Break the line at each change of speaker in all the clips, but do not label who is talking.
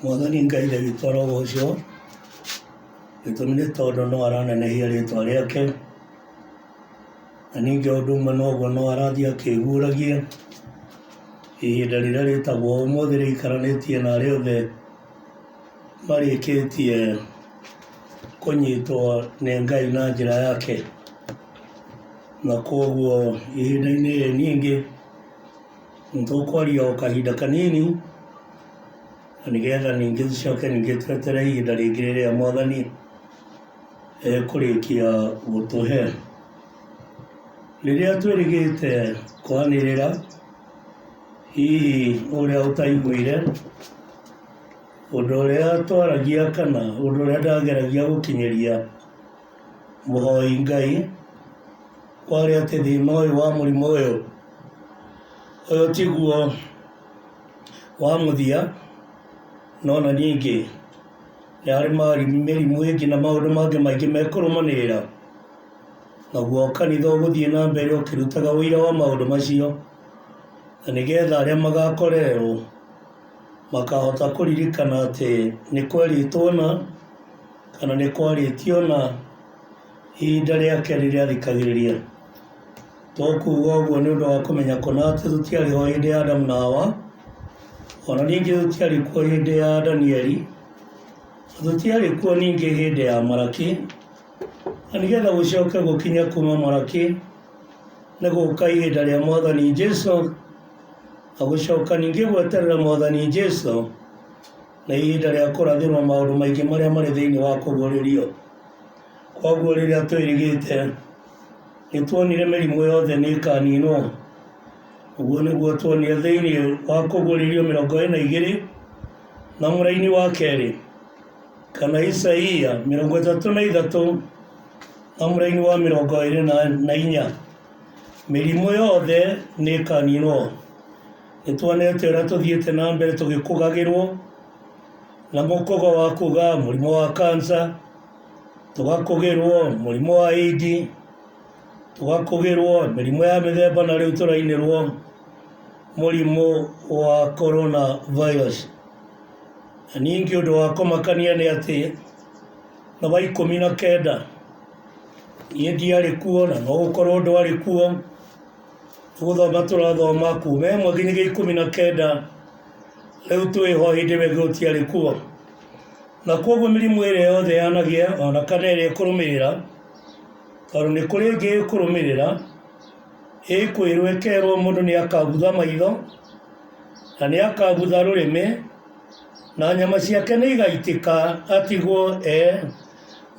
Mwathani Ngai ndagĩtwo arogocwo, gĩtũmi nĩ tondũ no aranenehia rĩtwa rĩake, na ningĩ o ũndũ ũmwe noguo no arathiĩ akĩguũragia, ihinda rĩrĩa rĩtagwo ũmũthĩ rĩikaranĩtie na arĩa othe marĩkĩtie kũnyitwo nĩ Ngai na njĩra yake, na koguo ihinda-inĩ rĩrĩ ningĩ, Nĩ tũkwaria o kahinda kanini, na nĩgetha ningĩ tũcoke ningĩ twetere ihinda rĩngĩ rĩrĩa Mwathani ekũrĩkia gũtũhe. Rĩrĩa twĩrĩgĩte kwanĩrĩra, hihi ũrĩa ũtaiguire, ũndũ ũrĩa twaragia kana ũndũ ũrĩa ndageragia gũkinyĩria. Mũhoi Ngai kwarĩ atĩ thĩna ũyũ wa mũrimũ ũyũ ũyũ tiguo wa mũthia no na ningĩ nĩ harĩ mĩrimũ ĩngĩ na maũndũ mangĩ maingĩ mekũrũmanĩrĩra naguo kanitha ũgũthiĩ na mbere ũkĩrutaga ũira wa maũndũ macio na nĩgetha arĩa magakorerwo makahota kũririkana atĩ nĩ kwerĩtwo na kana nĩ kwarĩtio na ihinda rĩake rĩrĩa rĩkagĩrĩria. To kuuga ũguo nĩ ũndũ wa kũmenya kũna atĩ tũtiarĩ ho hĩndĩ ya Adamu na Hawa, o na ningĩ tũtiarĩ kuo hĩndĩ ya Danieli, na tũtiarĩ kuo ningĩ hĩndĩ ya Malaki, na nĩgetha gũcoke gũkinya kuma Malaki nĩ gũka ihinda rĩa Mwathani Jesu, na gũcoka ningĩ gweterera Mwathani Jesu. na ihinda rĩa kũrathĩrwo maũndũ maingĩ marĩa marĩ thĩinĩ wa kũguũrĩrio. Koguo rĩrĩa twĩrĩgĩte, nĩ tuonire mĩrimũ yothe nĩ ĩkaninwo. Ũguo nĩguo tuonire thĩinĩ wa kũguũrĩrio mĩrongo ĩrĩ na igĩrĩ na mũraini wa kerĩ, kana Isaia mĩrongo ĩtatũ na ithatũ na mũraini wa mĩrongo ĩrĩ na, na inya. Mĩrimũ yothe nĩ ĩkaninwo. Nĩ tuonete ũrĩa tũthiĩte na mbere tũgĩkũgagĩrwo na mũkogo wa kuga mũrimũ wa kansa, tũgakũgĩrwo mũrimũ wa ĩdi, tũgakũgĩrwo mĩrimũ ya mĩthemba na rĩu tũrainĩrwo mũrimũ wa corona virus. Na ningĩ ũndũ wa kũmakania nĩ atĩ nĩ wa ikũmi na kenda niĩ ndiarĩ kuo na no gũkorwo ndwarĩ kuo. Gũthoma tũrathoma kuma ĩmwe nginya ikũmi na kenda rĩu twĩ ho hĩndĩ ĩmwe gũtiarĩ kuo na koguo mĩrimũ ĩrĩa yothe yanagĩa ona kana ĩrĩa ĩkũrũmĩrĩra tondũ nĩ kũrĩ ĩngĩ ĩkũrũmĩrĩra ĩkwĩrwo ĩkerwo mũndũ nĩ akabutha maitho na nĩ akabutha rũrĩmĩ na nyama ciake nĩ igaitĩka atigwo e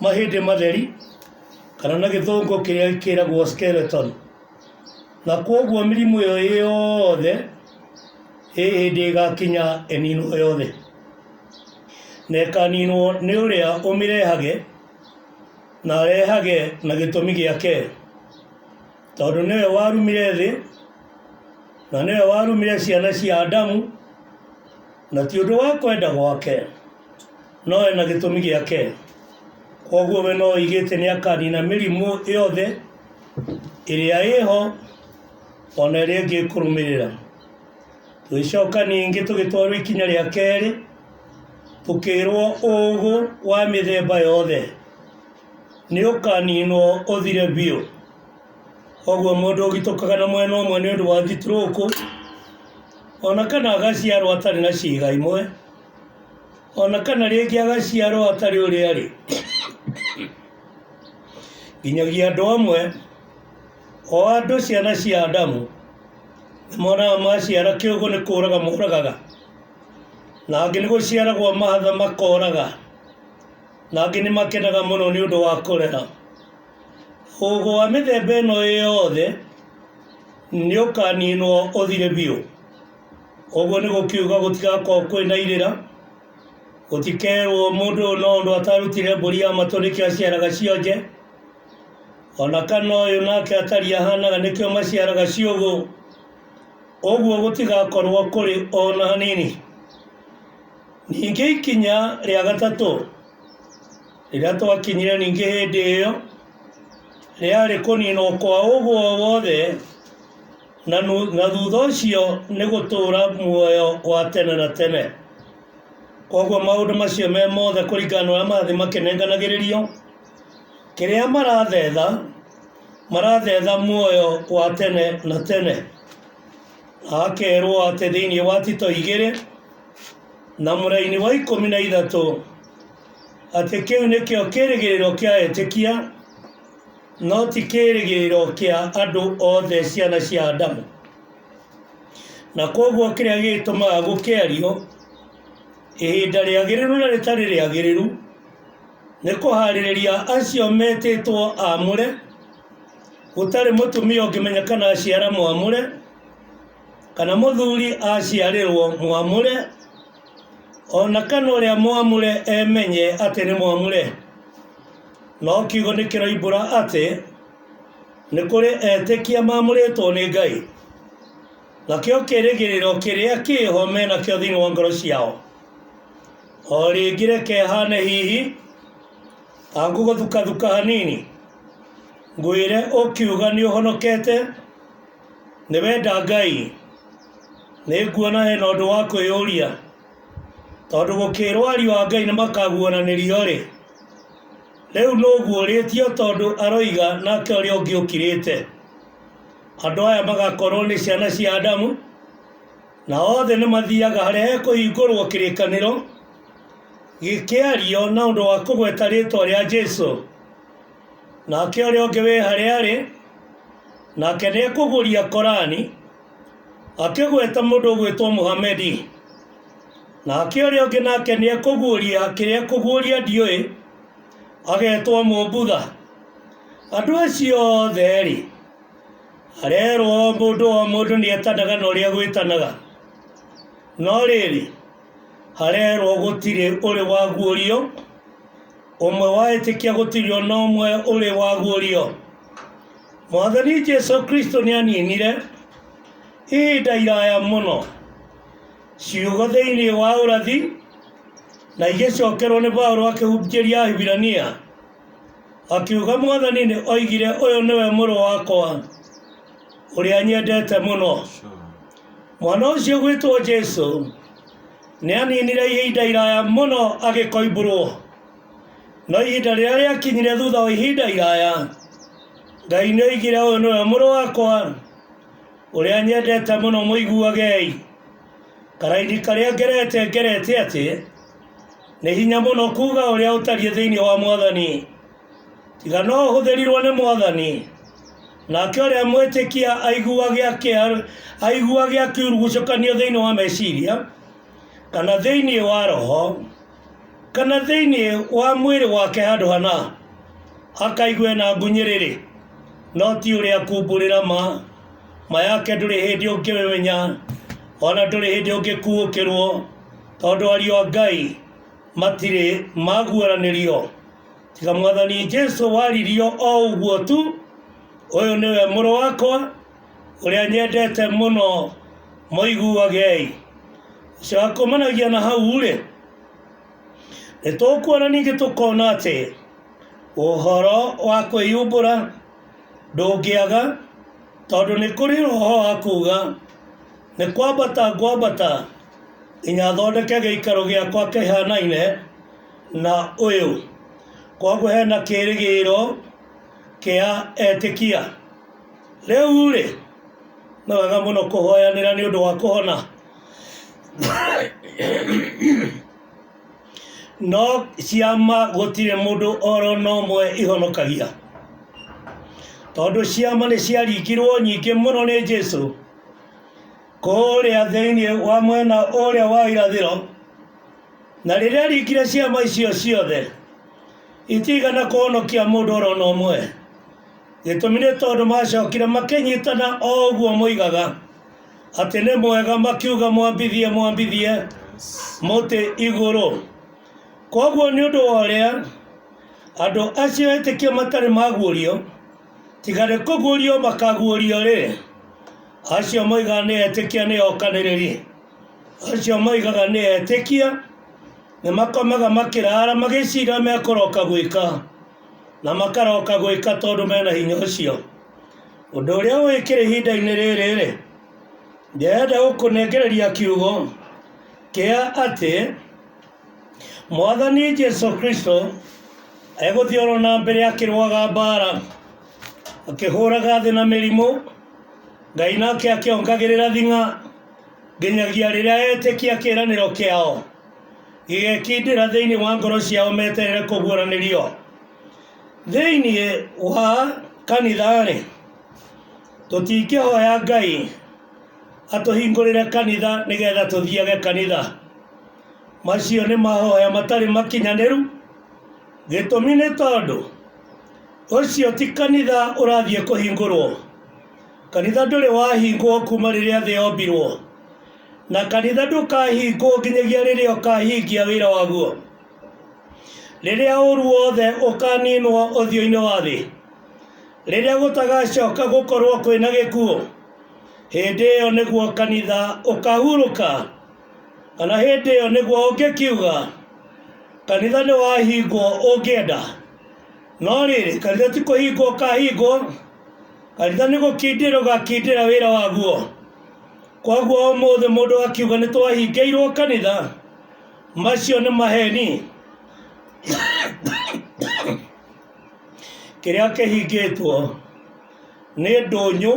mahĩndĩ matheri kana na gĩthũngũ kĩrĩa kĩragwo skeleton. Na koguo mĩrimũ ĩyo yothe ĩ hĩndĩ ĩgakinya ĩninwo yothe, na ĩkaninwo nĩ ũrĩa ũmĩrehage, na arehage na gĩtũmi gĩake, tondũ nĩwe warumire thĩ, na nĩwe warumire ciana cia Adamu, na ti ũndũ wa kwenda gwake, no ena gĩtũmi gĩake, koguo we no oigĩte nĩ akanina mĩrimũ yothe. ĩrĩa ĩho ona ĩrĩa ĩngĩ ĩkũrũmĩrĩra tũgĩcoka ningĩ tũgĩtwarwo ikinya rĩa kerĩ tũkĩrwo ũũgũ wa mĩthemba yothe nĩ ũkaninwo ũthire biũ koguo mũndũ ũgitũkaga na mwena ũmwe nĩ ũndũ wa thiturũkũ ona kana agaciarwo atarĩ na ciĩga imwe ona kana rĩngĩ agaciarwo atarĩ ũrĩa arĩ nginyagia andũ amwe o andũ ciana cia Adamu nĩmonaga maciara kĩũgũ nĩ kũũraga moragaga na angĩ nĩ gũciaragwo mahatha makoraga na angĩ nĩ makenaga mũno nĩ ũndũ wa kũrera ũgũ wa mĩthemba ĩno yothe nĩ ũkaninwo ũthire biũ ũguo nĩ gũkiuga gũtigakorwo kwĩna irĩra Gũtikerwo mũndũ ũyũ no ũndũ atarutire mbũri ya matũ nĩkĩo aciaraga cionje, o na kana ũyũ nake atariĩ ahanaga nĩkĩo maciaraga ciũgũ, ũguo gũtigakorwo kũrĩ o na hanini. Ningĩ ikinya rĩa gatatũ rĩrĩa twakinyire ningĩ hĩndĩ ĩyo rĩarĩ kũninwo kwa ũgũ o wothe, na, nu, na thutha ũcio nĩ gũtũũra muoyo wa tene na tene koguo maũndũ macio me mothe kũringana na ũrĩa marathiĩ makĩnenganagĩrĩrio kĩrĩa marathetha marathetha muoyo wa tene na tene na akerwo atĩ thĩinĩ wa tito igĩrĩ na mũraini wa ikũmi na ithatũ atĩ kĩu nĩkĩo kĩrĩgĩrĩro kĩa etĩkia No ti kĩĩrĩgĩrĩro kĩa andũ othe ciana cia Adamu. Na kwoguo kĩrĩa gĩgĩtũmaga gũkĩario ihinda rĩagĩrĩru na rĩtarĩ rĩagĩrĩru nĩ kũharĩrĩria acio metĩtwo amũre, gũtarĩ mũtumia ũngĩmenya kana aciara mwamũre, kana mũthuri aciarĩrwo mwamũre, o na kana ũrĩa mwamũre emenye atĩ nĩ mwamũre no kiugo nĩ kĩroimbũra atĩ nĩ kũrĩ etĩkia mamũrĩtwo nĩ ngai nakĩo kĩrĩgĩrĩro kĩrĩa kĩho me nakĩo thĩinĩ wa ngoro ciao o rĩngĩ reke hane hihi angũgũthukathuka hanini ngwĩre ũkiuga nĩ ũhonokete nĩ wenda ngai Nĩnguona hena ũndũ wa kwĩyũria, tondũ gũkĩĩrwo ariũ a Ngai nĩmakaguũranĩrio-rĩ, rĩu nũ ũguũrĩtio tondũ aroiga nake ũrĩa ũngĩ ũkirĩte? Andũ aya magakorwo nĩ ciana cia Adamu, na othe nĩmathiaga harĩa hekũhingũrwo kĩrĩkanĩro gĩkĩario na ũndũ wa kũgweta rĩtwa rĩa Jesũ. Nake ũrĩa ũngĩ wĩ harĩa arĩ, nake nĩekũgũria Korani Akĩgweta mũndũ ũgwĩtwo Mũhamedi, nake ũrĩa ũngĩ nake nĩ ekũguũria kĩrĩa ekũguũria ndiũĩ, agetwo Mũmbudha. Andũ acio othe rĩ, arerwo mũndũ o mũndũ nĩ etanaga na ũrĩa egwĩtanaga. No rĩrĩ, Harerwo gũtirĩ ũrĩ waguũrio, ũmwe waĩtĩkia gũtirĩ o na ũmwe ũrĩ waguũrio. Mwathani Jesu Kristo nĩ aninire ihinda iraya mũno ciugo thĩinĩ wa ũrathi na igĩcokerwo nĩ Paulo akĩhunjĩria Ahibirania akiuga Mwathani nĩ oigire ũyũ nĩwe mũrũ wakwa ũrĩa nyendete mũno. mwana ũcio ũgwĩtwo jesu nĩ aninire ihinda iraya mũno agĩkoimbũrwo no ihinda rĩrĩa rĩakinyire thutha wa ihinda iraya ngai nĩ oigire ũyũ nĩwe mũrũ wakwa ũrĩa nyendete mũno mũiguagei karaini karĩa ngerete ngerete atĩ nĩ hinya mũno kuuga ũrĩa ũtariĩ thĩinĩ wa mwathani tiga no ũhũthĩrirwo nĩ mwathani nake ũrĩa mwĩtĩkia aiguage akĩa- aiguage akiurugucũkanio thĩinĩ wa meciria kana thĩinĩ wa roho kana thĩinĩ wa mwĩrĩ wake handũ hana akaigue na ngunyĩrĩrĩ no ti ũrĩa kumbũrĩra ma ma yake ndũrĩ hĩndĩ ũngĩmenya ona ndũrĩ hĩndĩ ũngĩkuũkĩrwo tondũ ariũ a ngai matirĩ maguũranĩrio tiga mwathani jesu waririo o ũguo tu ũyũ nĩwe mũrũ wakwa ũrĩa nyendete mũno mũiguagei ũcio wakumanagia na hau rĩ nĩ tũkuona ningĩ tũkona atĩ ũhoro wa kwĩyumbũra ndũngĩaga tondũ nĩ kũrĩ roho wa kuga nĩ kwambata ngwambata nginya thondeke gĩikaro gĩakwa kĩhanaine na ũyũ. Kwoguo hena kĩĩrĩgĩrĩro kĩa etĩkia. Rĩu-rĩ, nĩ wega mũno kũhoyanĩra nĩ ũndũ wa kũhona. No ciama gũtirĩ mũndũ oro na ũmwe ihonokagia. Tondũ ciama nĩ ciaringirwo nyingĩ mũno nĩ Jesũ. kũũrĩa thĩinĩ wa mwena ũrĩa wa irathĩro na rĩrĩa rikire ciama icio ciothe itigana kũhonokia mũndũ oro na ũmwe gĩtũmi nĩ tondũ macokire makĩnyitana o ũguo moigaga atĩ nĩ mwega makiuga mwambithie mwambithie mũtĩ igũrũ koguo nĩ ũndũ wa ũrĩa andũ acio etĩkia matarĩ maguũrio tiga nĩ kũguũrio makaguũrio rĩ acio moigaga nĩ etĩkia nĩ okanĩrĩri acio moigaga nĩ etĩkia nĩ makomaga makĩrara magĩcira mekũroka gwĩka na makaroka gwĩka tondũ mena hinya ũcio ũndũ ũrĩa wĩkĩra ihinda-inĩ rĩrĩ rĩ ndĩrenda gũkũnengereria kiugo kĩa atĩ Mwathani Jesu Kristo egũthiĩ oro na mbere akĩrũaga mbaara akĩhũraga thĩ na mĩrimũ Ngai nake akĩongagĩrĩra thing'a nginyagia rĩrĩa etĩkia kĩĩranĩro kĩao gĩgekindĩra thĩinĩ wa ngoro ciao meterere kũguũranĩrio thĩinĩ wa kanitha-rĩ tũtingĩhoya Ngai atũhingũrĩre kanitha nĩgetha tũthiage kanitha Macio nĩ mahoya matarĩ makinyanĩru. Gĩtũmi nĩ tondũ ũcio ti kanitha ũrathiĩ kũhingũrwo. Kanitha ndũrĩ wahingwo kuma rĩrĩa thĩ yombirwo, na kanitha ndũkahingwo nginyagia rĩrĩa ũkahingia wĩra waguo. Rĩrĩa ũru wothe ũkaninwo ũthiũ-inĩ wa thĩ, rĩrĩa gũtagacoka gũkorwo kwĩna gĩkuũ, hĩndĩ ĩyo nĩguo kanitha ũkahurũka. Kana hĩndĩ ĩyo nĩguo ũngĩkiuga, kanitha nĩ wahingwo ũngĩenda. No rĩrĩ, kanitha ti kũhingwo ũkahingwo, kanitha nĩ gũkindĩra ũgakindĩra wĩra waguo. Koguo ũmũthĩ mũndũ akiuga nĩ twahingĩirwo kanitha, macio nĩ maheni. Kĩrĩa kĩhingĩtwo nĩ ndũnyũ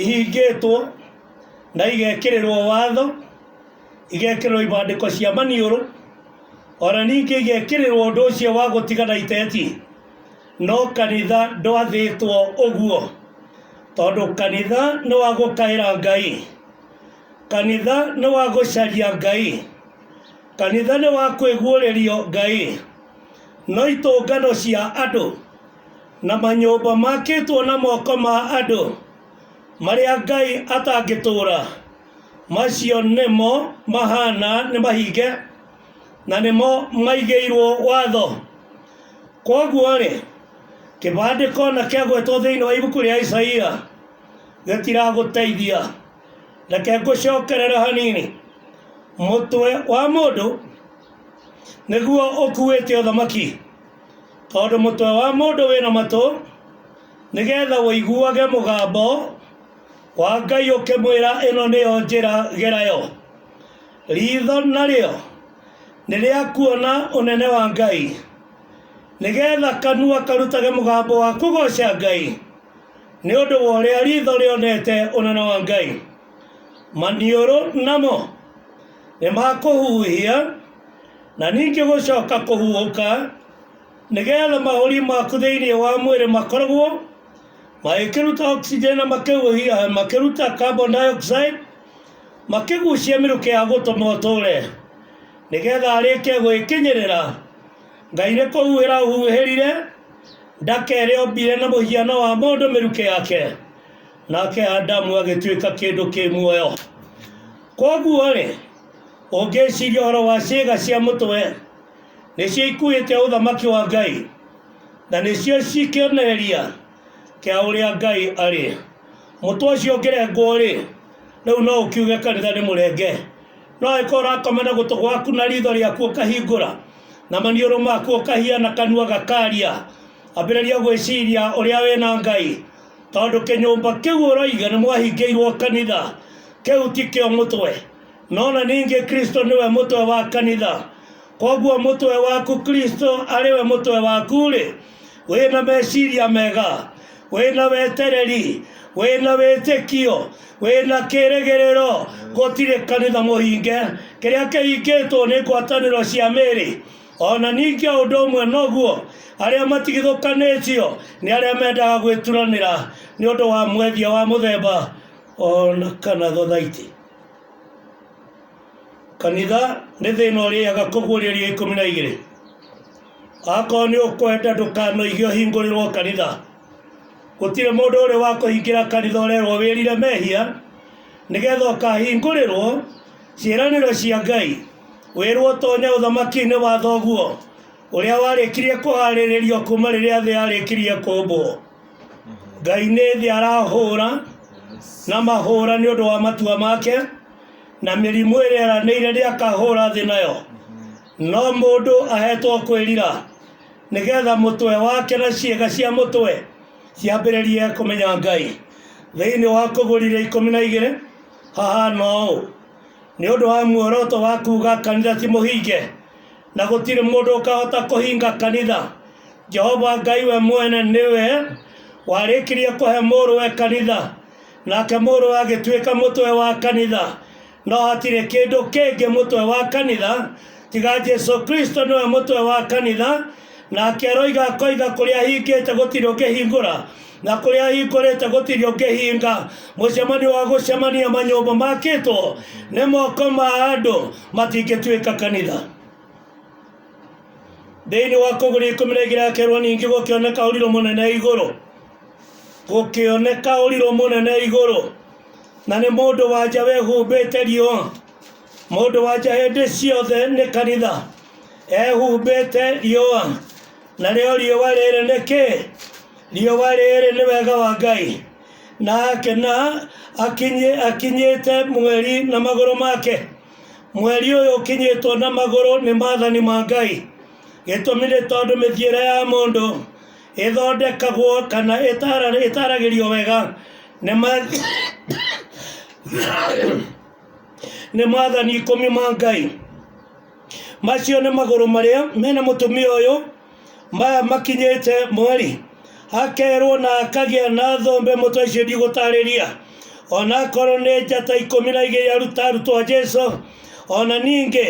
ihingĩtwo na igekĩrĩrwo watho igekĩrĩrwo ibandĩko cia maniũrũ ona ningĩ igekĩrĩrwo ũndũ ũcio wa gũtigana iteti no kanitha ndwathĩtwo ũguo tondũ kanitha nĩ wa gũkaĩra ngai kanitha nĩ wa gũcaria ngai kanitha nĩ wa kwĩguũrĩrio ngai no itũngano cia andũ na manyũmba makĩtwo na moko ma andũ marĩa Ngai atangĩtũũra, macio nĩmo mahaana nĩ mahinge na nĩmo maigĩirwo watho. Kwoguo-rĩ, kĩbandĩko o na kĩagwetwo thĩinĩ wa ibuku rĩa Isaia gĩtiragũteithia. Reke ngũcokerere hanini. Mũtwe wa mũndũ nĩguo ũkuĩte ũthamaki. Tondũ mũtwe wa mũndũ wĩ na matũ, nĩgetha ũiguage mũgambo wa Ngai ũkĩmwĩra ĩno nĩyo njĩra gerayo. Riitho narĩo nĩ rĩa kuona ũnene wa Ngai, nĩgetha kanua karutage mũgambo wa kũgooca Ngai, nĩ ũndũ wa ũrĩa riitho rĩonete ũnene wa Ngai. Maniũrũ namo. nĩ makũhuhia na ningĩ gũcoka kũhuhũka nĩgetha mahũri maku thĩinĩ wa mwĩrĩ makoragwo magĩkĩruta oxygen na makĩhuhia makĩruta carbon dioxide makĩgucia mĩrukĩ ya gũtũma ũtũre nĩgetha arĩke gwĩkinyĩrĩra ngai nĩ kũhuhĩra ũhuhĩrire ndaka ĩrĩa ombire na mũhiano wa mũndũ mĩrukĩ yake Nake Adamu agĩtuĩka kĩndũ kĩ muoyo. Kwoguo-rĩ, ũngĩciria ũhoro wa ciĩga cia mũtwe, nĩcio ikuĩte ũthamaki wa Ngai, na nĩcio cikĩonereria kĩa ũrĩa Ngai arĩ. Mũtwe ũcio ũngĩrengwo-rĩ, rĩu no ũkiuge kanitha nĩ mũrenge. No angĩkorwo ũrakoma na gũtũ gwaku na ritho rĩaku ũkahingũra, na maniũrũ maku ũkahiana kanua gakaria, ambĩrĩria gwĩciria ũrĩa wĩna Ngai, Tondũ kĩnyũmba kĩu ũroiga nĩ mwahingĩirwo kanitha, kĩu ti kĩo mũtwe, no na ningĩ Kristo nĩwe mũtwe wa kanitha. Koguo mũtwe waku Kristo arĩwe mũtwe waku-rĩ, wĩna meciria mega, wĩna wetereri, wĩna wĩtĩkio, wĩna kĩrĩgĩrĩro, gũtirĩ kanitha mũhinge. Kĩrĩa kĩhingĩtwo nĩ ngwatanĩro cia mĩĩrĩ. o na ningĩ o ũndũ ũmwe noguo arĩa matigithũkanĩtio nĩ arĩa mendaga gwĩturanĩra nĩ ũndũ wa mwendia wa mũthemba o na kana thothaitĩ kanitha nĩ thĩna ũrĩaga kũguũrĩrio ikũmi na igĩrĩ akorwo nĩ ũkwenda ndũkanoige ũhingũrĩrwo kanitha gũtirĩ mũndũ ũrĩ wa kũhingĩra kanitha ũrerwo wĩrire mehia nĩgetha ũkahingũrĩrwo ciĩranĩro cia ngai Wĩrwo ũtonye ũthamaki-inĩ wa thoguo ũrĩa warĩkirie kũharĩrĩrio kuma rĩrĩa thĩ yarĩkirie kũmbwo ngai nĩ thĩ arahũra na mahũra nĩ ũndũ wa matua make na mĩrimũ ĩrĩa eranĩire nĩ akahũra thĩ nayo no mũndũ ahetwo kwĩrira nĩgetha mũtwe wake na ciĩga cia mũtwe ciambĩrĩrie kũmenya ngai thĩinĩ wa kũgũrire ikũmi na igĩrĩ hahana ũũ Nĩ ũndũ wa muoroto wa kuuga kanitha ti mũhinge na gũtirĩ mũndũ ũkahota kũhinga kanitha, Jehova Ngai we mwene nĩwe warĩkirie kũhe mũrũwe kanitha, nake mũrũwe agĩtuĩka mũtwe wa kanitha. No hatirĩ kĩndũ kĩngĩ mũtwe wa kanitha tiga Jesu Kristo nĩwe mũtwe wa kanitha. nake aroiga akoiga kũrĩa ahingĩte gũtirĩ ũngĩhingũra na kũrĩa ahingũrĩte gũtirĩ ũngĩhinga mũcemanio wa gũcemania manyũmba makĩtwo nĩ moko ma andũ matingĩtuĩka kanitha thĩinĩ wa kũgũri ikũmi na igĩrĩ akerwo ningĩ gũkĩoneka ũrirũ mũnene igũrũ gũkĩoneka ũrirũ mũnene igũrũ na nĩ mũndũ wanja wehumbĩte riũa Mũndũ wanja hĩndĩ ciothe nĩ kanitha ehumbĩte riũa. Narĩo riũa rĩrĩ nĩ kĩ? Riũa rĩrĩ nĩ wega wa Ngai. Nake na akinyi, akinyĩte mweri na magũrũ make. Mweri ũyũ ũkinyĩtwo na magũrũ nĩ maathani ma Ngai. Gĩtũmi nĩ tondũ mĩthiĩre ya mũndũ ĩthondekagwo kana ĩtara- ĩtaragĩrio wega nĩ ma- nĩ maathani ikũmi ma ngai macio nĩ magũrũ marĩa mena mũtumia ũyũ maya makinyĩte mweri akerwo na akagĩa na thombe mũtwe icio ndigũtarĩria ona akorwo nĩ njata ikũmi na igĩrĩ aruta arutwo a jesu ona ningĩ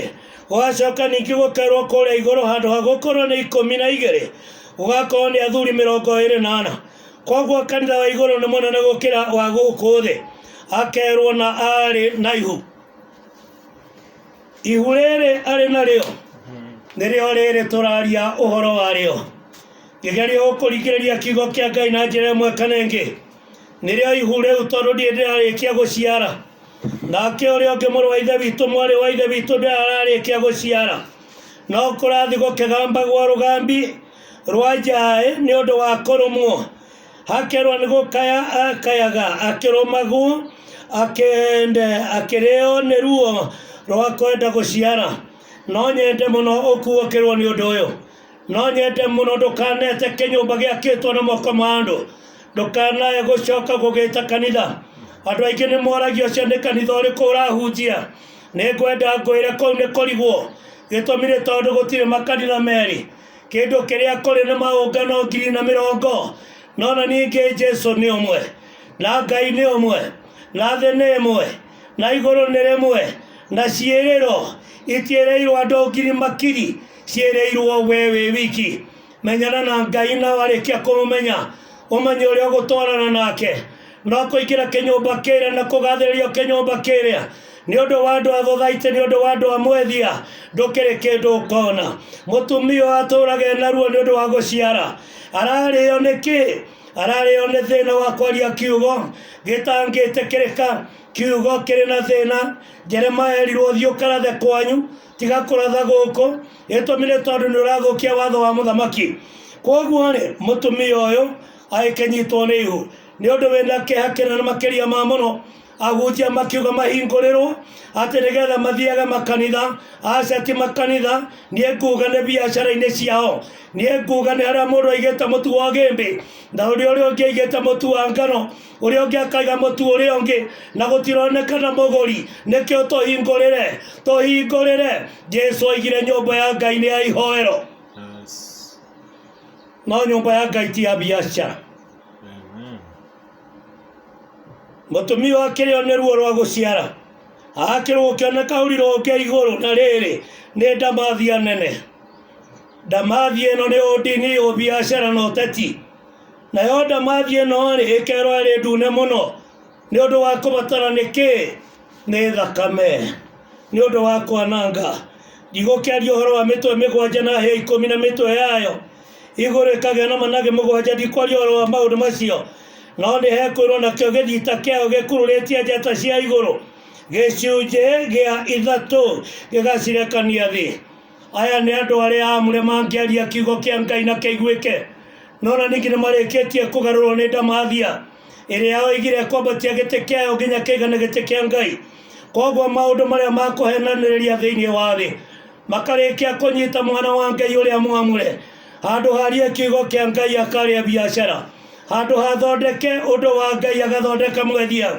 gũgacoka ningĩ gũkerwo kũrĩa igũrũ handũ ha gũkorwo nĩ ikũmi na igĩrĩ gũgakorwo nĩ athuri mĩrongo ĩrĩ na ana koguo kanitha wa igũrũ nĩ mũnene gũkĩra wa gũkũ thĩ akerwo na arĩ na ihu ihu rĩrĩ arĩ narĩo nĩrĩo rĩrĩ tũraria ũhoro warĩo ngĩgeria gũkũringĩrĩria kiugo kĩa ngai na njĩra ĩmwe kana ĩngĩ nĩrĩo ihu rĩu tondũ ndiĩ ndĩrarĩkia gũciara nake ũrĩa ũngĩ mũrũ wa ithe witũ mwarĩ wa ithe witũ ndĩrararĩkia gũciara no kũrathi gũkĩgambagwo rũgambi rwanjaĩ nĩ ũndũ wa kũrũmwo akerwo nĩ gũkaya akayaga akĩrũmagwo akende akĩrĩo nĩ ruo rwa kwenda gũciara no nyende mũno ũkuũkĩrwo nĩ ũndũ ũyũ no nyende mũno ndũkanete kĩnyũmba gĩakĩtwo na moko ma andũ ndũkanae gũcoka gũgĩta kanitha andũ aingĩ nĩ moragia ũcio nĩ kanitha ũrĩkũ ũrahunjia nĩ ngwenda ngwĩre kũu nĩ kũrigwo gĩtũmi nĩ tondũ gũtirĩ makanitha merĩ kĩndũ kĩrĩa kũrĩ na maũngano ngiri na mĩrongo no na ningĩ jesu nĩ ũmwe na ngai nĩ ũmwe na thĩ nĩ ĩmwe na igũrũ nĩ rĩmwe na ciĩrĩro itiĩrĩirwo andũ ngiri makiri ciĩrĩirwo we wĩ wiki menyana na ngai na warĩkia kũmũmenya ũmenye ũrĩa ũgũtwarana nake no kũingĩra kĩnyũmba kĩrĩa na kũgathĩrĩrio kĩnyũmba kĩrĩa nĩ ũndũ wa andũ a thothaitĩ nĩ ũndũ wa andũ a mwethia ndũkĩrĩ kĩndũ ũkona mũtumia ũyũ atũraga ena ruo nĩ ũndũ wa gũciara ararĩo nĩ kĩ ararĩo nĩ thĩna wa kwaria kiugo gĩtangĩtĩkĩrĩka kiugo kĩrĩ na thĩna jeremaya erirwo thiĩ ũkarathe kwanyu tiga kũratha gũkũ gĩtũmi nĩ tondũ nĩ ũrathũkia watho wa mũthamaki kwoguo rĩ mũtumia ũyũ agĩkĩnyitwo nĩ ihu nĩ ũndũ wĩna kĩeha kĩnene makĩria ma mũno ahunjia makiuga mahingũrĩrwo atĩ nĩgetha mathiage makanitha aca ti makanitha niĩ nguga nĩ biacara-inĩ ciao niĩ nguga nĩ harĩa mũndũ aigĩte mũtu wa gĩmbĩ na ũrĩa ũrĩa ũngĩ aigĩte mũtu wa ngano ũrĩa ũngĩ akaiga mũtu ũrĩa ũngĩ na gũtironeka na mũgũri nĩkĩo tũhingũrĩre tũhingũrĩre jesu oigire nyũmba ya ngai nĩ ya ihoero no nyũmba ya ngai ti ya biacara Amen. mũtumia akĩrĩo nĩ ruo rwa gũciara akĩrwo ũkĩona kaũri rũngĩ igũrũ na rĩrĩ nĩ ndamathia nene ndamathi ĩno nĩ ũndini ũbiacara na ũteti nayo ndamathi ĩno rĩ ĩkerwo ĩrĩ ndune mũno Nĩ ũndũ wa kũbatara nĩ kĩ? Nĩ thakame. Nĩ ũndũ wa kwananga. Ndigũkĩaria ũhoro wa mĩtwe mĩgwanja na hĩa ikũmi na mĩtwe yayo. Igũrũ ĩkagĩa na manage mũgwanja. Ndikwaria ũhoro wa maũndũ macio. No nĩ hekwĩrwo nakĩo gĩthita kĩayo gĩkururĩtie njata cia igũrũ. Gĩcunjĩ gĩa ithatũ gĩgacirekania thĩ. aya nĩ andũ arĩa amũre mangĩaria kiugo kĩa ngai na kĩiguĩke no na ningĩ nĩ marĩkĩtie kũgarũrwo nĩ ndamathia ĩrĩa oigire kwambatia gĩtĩ kĩayo nginya kĩigana gĩtĩ kĩa ngai koguo maũndũ marĩa makũhenanĩrĩria thĩinĩ wa thĩ makarĩkia kũnyita mwana wa ngai ũrĩa mwamũre handũ harie kiugo kĩa ngai akarĩa biacara handũ hathondeke ũndũ wa ngai agathondeka mwendia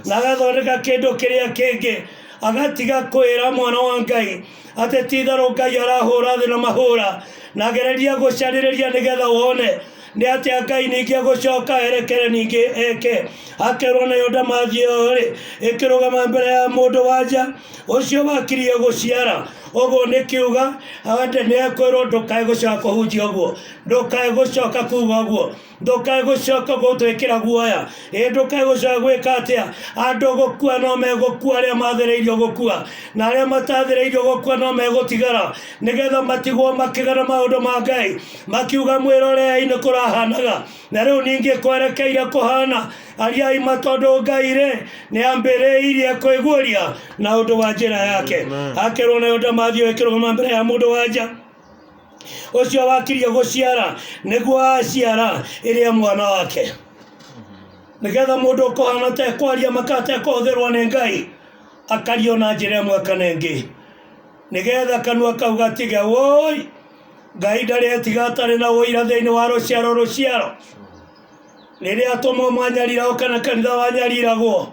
na agathondeka kĩndũ kĩrĩa kĩngĩ agatiga kwĩra mwana wa ngai atĩ ti itherũ ngai arahũra thĩ na mahũra na gereria gũcarĩrĩria nĩgetha wone nĩ atĩa ngai ningĩ gũcoka erekere ningĩ eke akerwo nayo ndamathi ĩyo rĩ ĩkĩrũgama mbere ya mũndũ wanja ũcio wakirie gũciara ũguo nĩ kiuga ande nĩ ekwĩrwo ndũkae gũcoka kũhunjia ũguo ndũkae gũcoka kuga ũguo ndũkae gũcoka gũtwĩkĩra guoya ĩ ndũkae gũcoka gwĩka atĩa andũ gũkua no megũkua arĩa mathĩrĩirio gũkua na arĩa matathĩrĩirio gũkua no megũtigara nĩgetha matigwo makĩgana maũndũ ma ngai makiuga mwĩrorei nĩ kũrahanaga na rĩu ningĩ kwerekeire kũhana ariai ma tondũ ngai rĩ nĩ ambĩrĩirie kwĩguũria na ũndũ wa njĩra yake Amen. akerwo nayo ndamathi ĩkĩrũgama mbere ya mũndũ wa nja ũcio wakirie gũciara nĩguo aciara ĩrĩa mwana wake nĩgetha mũndũ ũkũhana ũtekwaria maka atekũhũthĩrwo nĩ ngai akario na njĩra ĩmwe kana ĩngĩ nĩgetha kanua kau gatige woi ngai ndaretiga atarĩ na ũira thĩinĩ wa rũciaro rũciaro rĩrĩa atũmwo mwanyariragwo kana kanitha wanyariragwo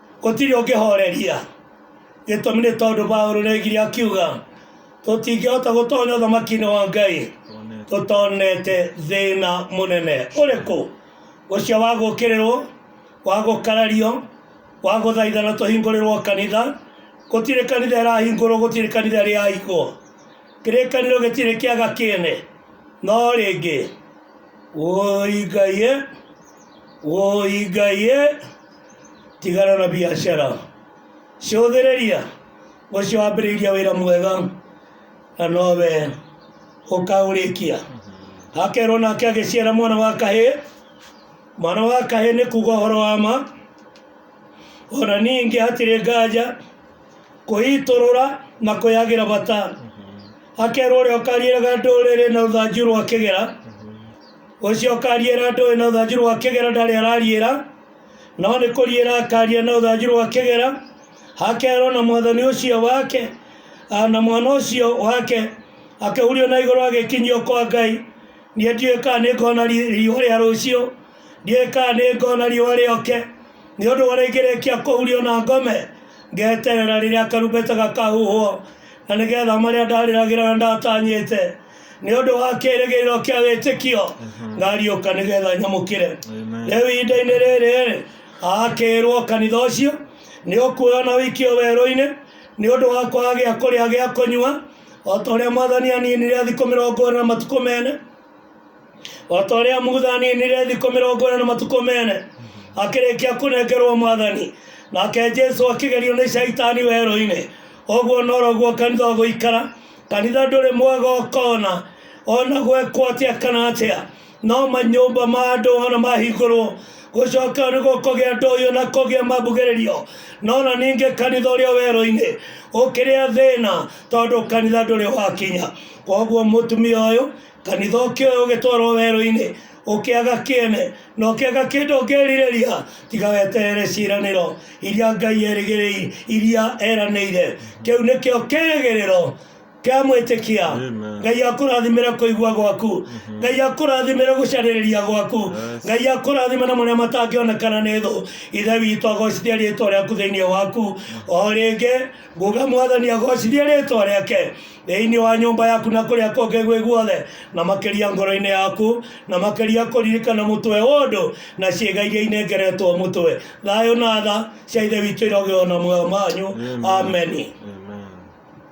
Gũtirĩ ũngĩhooreria. Gĩtũmi nĩ tondũ Paulo nĩoigire akiuga, tũtingĩhota gũtonya ũthamaki-inĩ wa Ngai tũtonete thĩna mũnene ũrĩkũ, ũcio wa gũũkĩrĩrwo, wa gũkarario, wa gũthaithana tũhingũrĩrwo kanitha. Gũtirĩ kanitha ĩrahingũrwo, gũtirĩ kanitha ĩrĩahingwo. Kĩrĩkanĩro gĩtirĩ kĩaga kĩene. No rĩngĩ, wũi Ngai ĩ, wũi Ngai ĩ. tigana na biacara cũthĩrĩria ũcio wambĩrĩirie wĩra mwega na nowe ũkaũrĩkia akerwo nake agĩciara mwana wa kahĩ mwana wa kahĩ nĩ kuga ũhoro wa ma ona ningĩ hatirĩ nganja kũitũrũra na kwĩyagĩra bata akerwo ũrĩa ũkariĩraga ndũrĩrĩ na rũthanju rwa kĩgera ũcio ũkariĩra ndũĩ na rũthanju rwa kĩgera ndarĩ arariĩra no nĩ kũriĩra akaria na ũthanju rwa kĩgera hakerwo na mwathani ũcio wake ah, na mwana ũcio wake akĩhurio na igũrũ agĩkinyio kwa ngai niĩ ndiũĩ kana nĩ ngona ri- riũa rĩa rũciũ ndiũĩ kana nĩ ngona riũa rĩoke nĩ ũndũ ũrĩa ingĩrĩkia kũhurio na ngome ngeterera rĩrĩa karumbeta gakahuhwo na nĩgetha marĩa ndarĩragĩra na ndatanyĩte nĩ ũndũ wa kĩrĩgĩrĩro kĩa wĩtĩkio ngariũka nĩgetha nyamũkĩre Amen. rĩu ihinda-inĩ rĩrĩ akĩrwo kanitha ũcio nĩ ũkuoyo na wikio werũ-inĩ nĩ ũndũ wa kwaga gĩa kũrĩa gĩa kũnyua o ta ũrĩa mwathani aninire thikũ mĩrongo ĩna na matukũ mene o ta ũrĩa mutha aninire thikũ mĩrongo ĩna na matukũ mene akĩrĩkia kũnengerwo mwathani nake jesu akĩgerio nĩ caitani werũ-inĩ ũguo noroguo kanitha ũgũikara Kanitha ndũrĩ mwega ũkona ona gwekwo atĩa kana atĩa no manyũmba ma andũ ona mahingũrwo gũcoka nĩ gũkũgĩa ndoyo na kũgĩa mambugĩrĩrio no na ningĩ kanitha ũrĩa werũ-inĩ ũkĩrĩa thĩna tondũ kanitha ndũrĩ wakinya koguo mũtumia ũyũ kanitha ũkĩoya ũgĩtwarwo werũ-inĩ ũkĩaga kĩene na ũkĩaga kĩndũ ũngĩrirĩria tiga weterere ciĩranĩro iria ngai erĩgĩrĩi iria eranĩire kĩu nĩkĩo kĩrĩgĩrĩro kĩa mwĩtĩkia Amen. ngai akũrathimĩre kũigua gwaku ngai akũrathimĩre gũcarĩrĩria gwaku ngai akũrathime na marĩa matangĩonekana nĩ thũ ithe witũ agocithie rĩtwa rĩaku thĩinĩ waku o rĩngĩ nguga mwathani agocithie rĩtwa rĩake thĩinĩ wa nyũmba yaku na kũrĩa kũngĩ gwĩ guothe na makĩria ngoro-inĩ yaku na makĩria kũririkana mũtwe ũndũ na ciĩga iria inengeretwo mũtwe thayũ na tha cia ithe witũ irogeo na muoyo manyu ameni Amen.